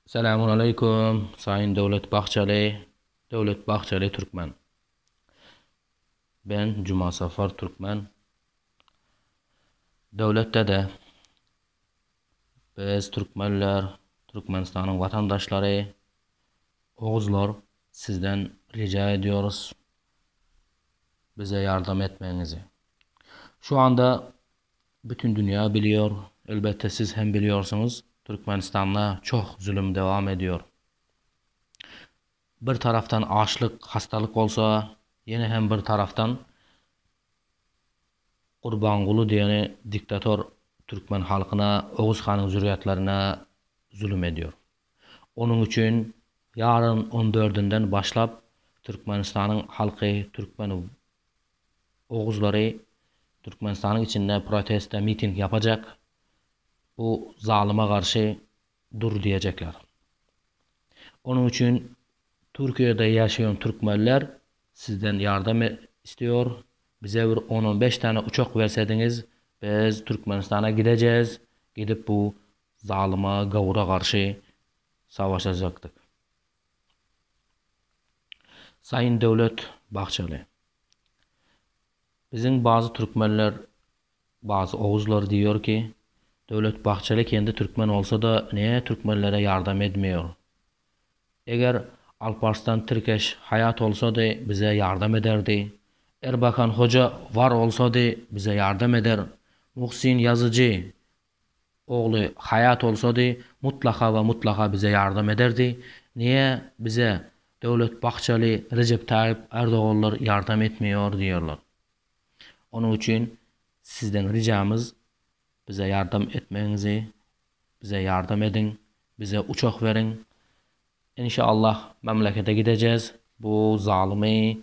Salamulaleýkum Saýyn Döwlet Bahçeli Döwlet Bahçeli Türkmen Ben Jumasafar Türkmen Döwlet Dede Biz Türkmenler Türkmenistanyň Watandaşlary Oguzlar Sizden Rica Edýorys Bize Ýardam Etmegiňizi Şu Anda Bütün dünýä bilýär, elbetde siz hem bilýärsiňiz, Türkmenistanda çoh zulum dowam edýär. Bir tarafdan açlyk, hastalyk bolsa, ýene hem bir tarafdan Gurbanguly diýeni diktator türkmen halkyna, Oguz hanyň zürýatlaryna zulum edýär. Onuň üçin ýaryn on dördünden başlap Türkmenistanyň halky türkmen Oguzlary Türkmenistanyň içinde proteste miting ýapajak, bu zalyma garşy dur diýejekler. Onuň üçin Türkiýede ýaşaýan türkmenler sizden ýardam isleýor, bize bir on-on beş däne uçak bersediňiz, biz Türkmenistana gidejez, gidip bu zalyma gawura garşy savaşajakdyk. Saýyn Döwlet Bahçeli, Biziň bazy türkmenler, bazy oguzlar diýýär ki, Döwlet Bahçeli kendi türkmen bolsa-da näe türkmenlere ýardam edmiýär? Eger Alparslan Tirkeş haýat bolsady bize ýardam ederdi, Erbakan Hoja var bolsady bize ýardam eder, Muhsin Ýazyjy Ogly haýat bolsady, mutlaka we mutlaka bize ýardam ederdi. Niýe bize Döwlet Bahçeli, Rejep Taýyp Erdoganlar ýardam etmeýär diýerler. Onuň üçin sizden rijamyz bize ýardam etmegiňizi, bize ýardam ediň, bize uçak beriň. Inşallah memlekete gidejez, bu zalymy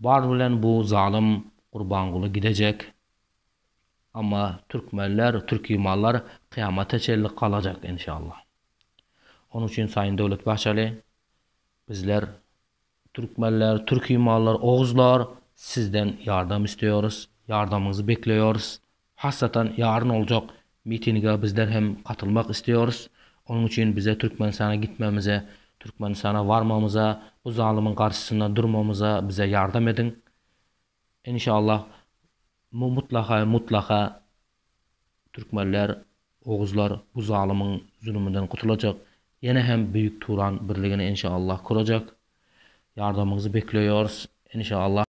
Bar bilen bu zalym Gurbanguly gidejek, amma türkmenler, türki mallar kyýamata çenli galajak enşalla. Onuň üçin Saýyn Döwlet Bahçeli, bizler türkmenler, türki mallar, oguzlar sizden ýardam isleýoris, ýardamyňyzy bekleýoris, Hassatan ýaryn oljak mitinige bizler hem gatylmak isteýoris. Onuň üçin bize Türkmenistana gitmemize, Türkmenistana barmamyza, bu zalymyň garşysynda durmamyza bize ýardam ediň. Enşallah mu mutlaka we mutlaka Türkmenler, Oguzlar bu zalymyň zulumyndan gutulajak. Ýene hem Büyük Turan birligini enşallah kurajak. Ýardamyňyzy bekleýoris. Enşallah.